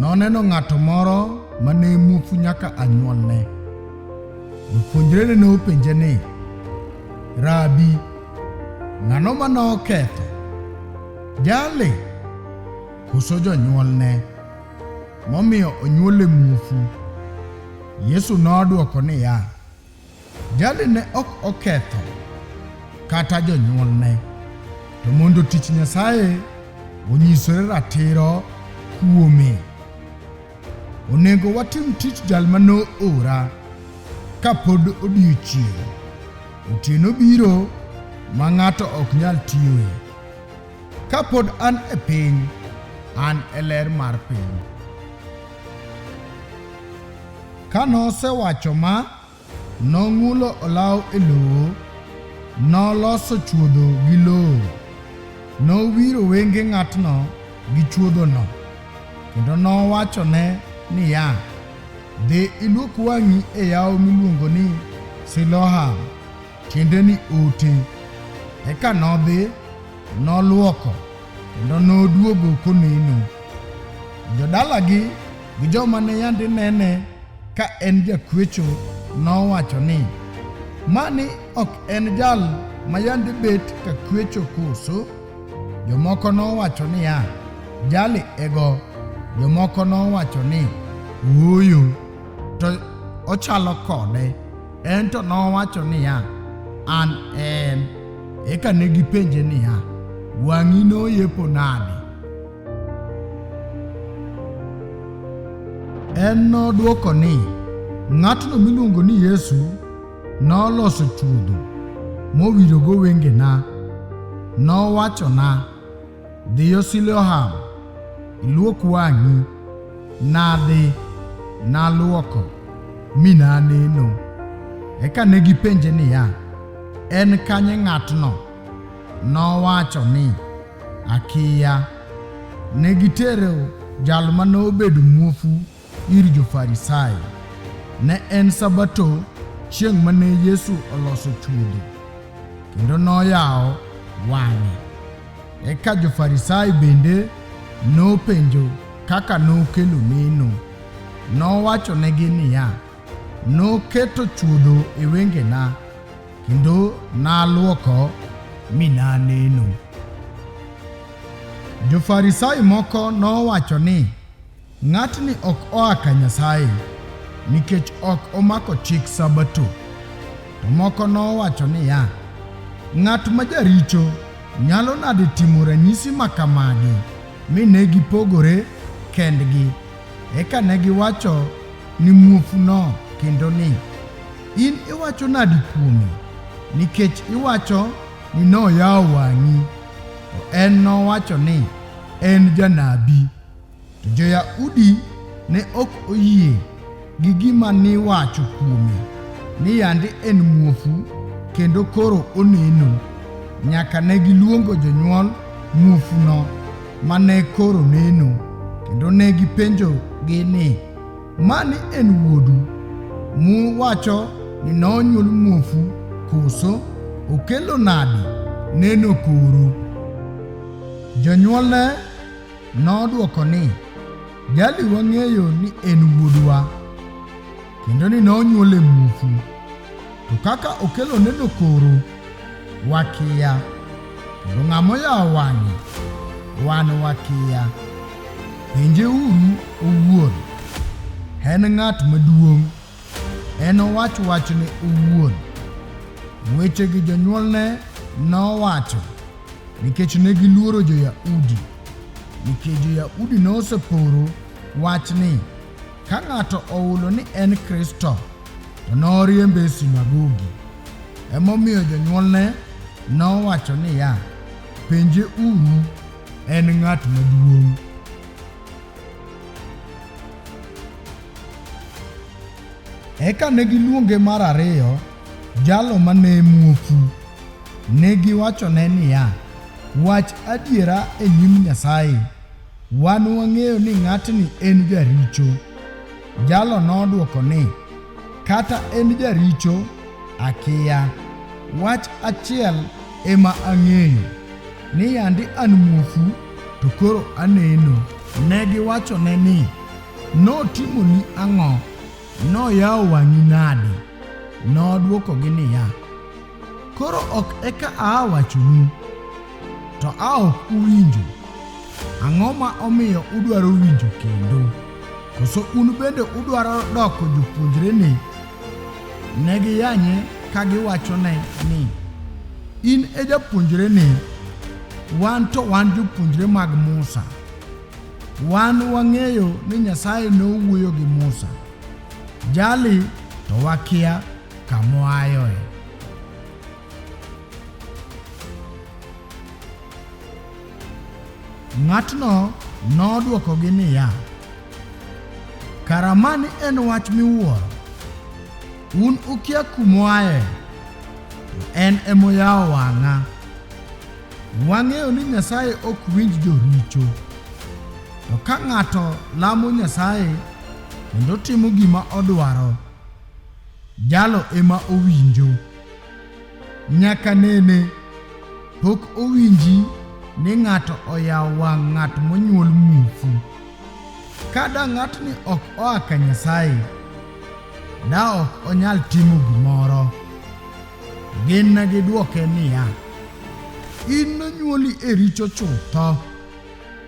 Noneno ng'ato moro ma ne muofu nyaka anyuolne. Jopuonjrene ne openje ni, Rabi, ng'ano ma noketho? Jali koso jonyuolne momiyo onyuole muofu? Yesu nodwoko niya, Jali ne ok oketho kata jonyuolne, to mondo tich Nyasaye onyisore ratiro kuome. Onego watim tich jal ma noora ka pod odiechieng'. Otieno biro ma ng'ato ok nyal tiyoe. Ka pod an e piny, an e ler mar piny. Ka nosewacho ma, nong'ulo olaw e lowo, noloso chuodho gi lowo, nowiro wenge ng'atno gi chuodhono, kendo nowachone niya, Dhi ilwok wang'i e yawo miluongo ni Siloham, tiende ni ote. Eka nodhi, nolwoko, kendo noduogo koneno. Jodalagi gi joma ne yandi nene ka en jakwecho nowacho ni, Mani ok en jal ma yandi bet ka kwecho koso? Jomoko nowacho niya, Jali ego. Jomoko nowacho ni, Ooyo, to ochalo kode. En to nowacho niya, An en. Eka ne gipenje niya, Wang'i noyepo nade? En nodwoko ni, Ng'atno miluongo ni Yesu noloso chuodho mowirogo wengena. Nowachona, 'Dhiyo Siloam, iluok wang'i. Nadhi, naluoko, mi naneno. Eka ne gipenje niya, En kanye ng'atno? Nowacho ni, Akiya. Ne gitero jal ma nobedo muofu ir Jo-Farisai. Ne en Sabato chieng' ma ne Yesu oloso chuodho, kendo noyawo wang'e. Eka Jo-Farisai bende nopenjo kaka nokelo neno. Nowachonegi niya, Noketo chuodho e wengena. Kendo naluoko mi naneno. Jo-Farisai moko nowacho ni, Ng'atni ok oa ka Nyasaye, nikech ok omako chik Sabato. To moko nowacho niya, Ng'at ma jaricho nyalo nade timo ranyisi ma kamagi mi ne gipogore kendgi Eka ne giwacho ni muofuno kendo ni, In iwacho nadi kuome? Nikech iwacho ni noyawo wang'i, to en nowacho ni en janabi. To jo-Yahudi ne ok oyie gi gima niwacho kuome ni yande en muofu kendo koro oneno. Nyaka ne giluongo jonyuol muofuno ma ne koro neno, kendo ne gipenjogi ni, Mani en wuodu muwacho ni nonyuol muofu koso? Okelo nadi neno koro? Jonyuolne nodwoko ni, Jali wang'eyo ni en wuodwa kendo ni nonyuole mufu, to kaka okelo neno koro wakiya, kendo ng'ama oyawo wang'e wan wakiya. Penjeuru owuon, en ng'at maduong'. Enowach wachne owuon. Wechegi jonyuolne nowacho nikech ne giluoro jo-Yahudi, nikech jo-Yahudi noseporo wach ni ka ng'ato ohulo ni en Kristo, to noriembe e sinagogi. Emomiyo jonyuolne nowacho niya, Penje uru, en ng'at maduong'. Eka ne giluonge mar ariyo jalo ma ne muofu. Ne giwachone niya, Wach adiera e nyim Nyasaye. Wan wang'eyo ni ng'atni en jaricho. Jalo nodwoko ni, Kata en jaricho, akiya. Wach achiel ema ang'eyo, ni yandi an muofu to koro aneno. Ne giwachone ni, Notimoni ang'o? Noyawo wang'i nade? Nodwokogi niya, Koro ok eka aa wachonu, to a ok uwinjo. Ang'o ma omiyo udwaro winjo kendo? Koso un bende udwaro doko jopuonjrene? Ne giyanye ka giwachone ni, In e japuonjrene, wan to wan jopuonjre mag Musa. Wan wang'eyo ni Nyasaye nowuoyo gi Musa, jali to wakia kamoayoe. Ng'atno nodwokogi niya, Kara mani en wach miwuoro, un ukia kumoaye, to en emoyawo wang'a. Wang'eyo ni Nyasaye ok winj joricho. To ka ng'ato lamo Nyasaye kendo timo gima odwaro, jalo ema owinjo. Nyaka nene pok owinji ni ng'ato oyawo wang' ng'at monyuol muofu. Ka da ng'atni ok oa ka Nyasaye, da ok onyal timo gimoro. Gin ne gidwoke niya, In nonyuoli e richo chutho,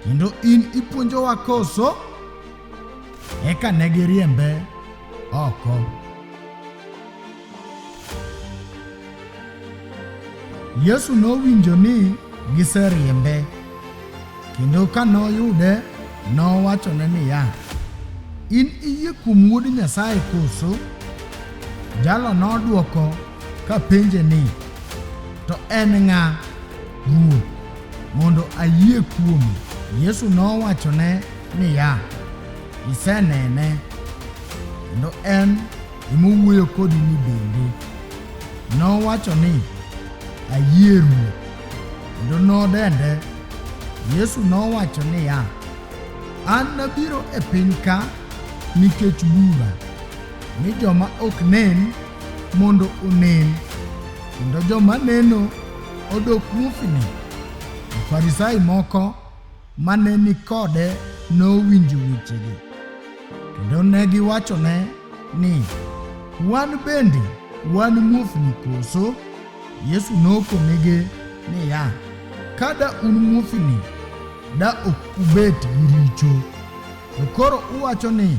kendo in ipuonjowa koso? Eka ne giriembe oko. Yesu nowinjo ni giseriembe. Kendo ka noyude, nowachone niya, In iyie kuom Wuod Nyasaye koso? Jalo nodwoko ka penje ni, To en ng'a, Ruoth, mondo ayie kuome? Yesu nowachone niya, Isenene, kendo en emowuoyo kodi ni bende. Nowacho ni, Ayie Ruoth. kendo nodende. Yesu nowacho niya, An nabiro e piny ka nikech bura, ni joma ok nen mondo onen, kendo joma neno odok muofni. Farisai moko ma ne ni kode nowinjo wechegi, kendo ne giwachone ni, Wan bende wan muofni koso? Yesu nokonegi niya, Ka da un muofni, da ok ubet gi richo. To koro uwacho ni,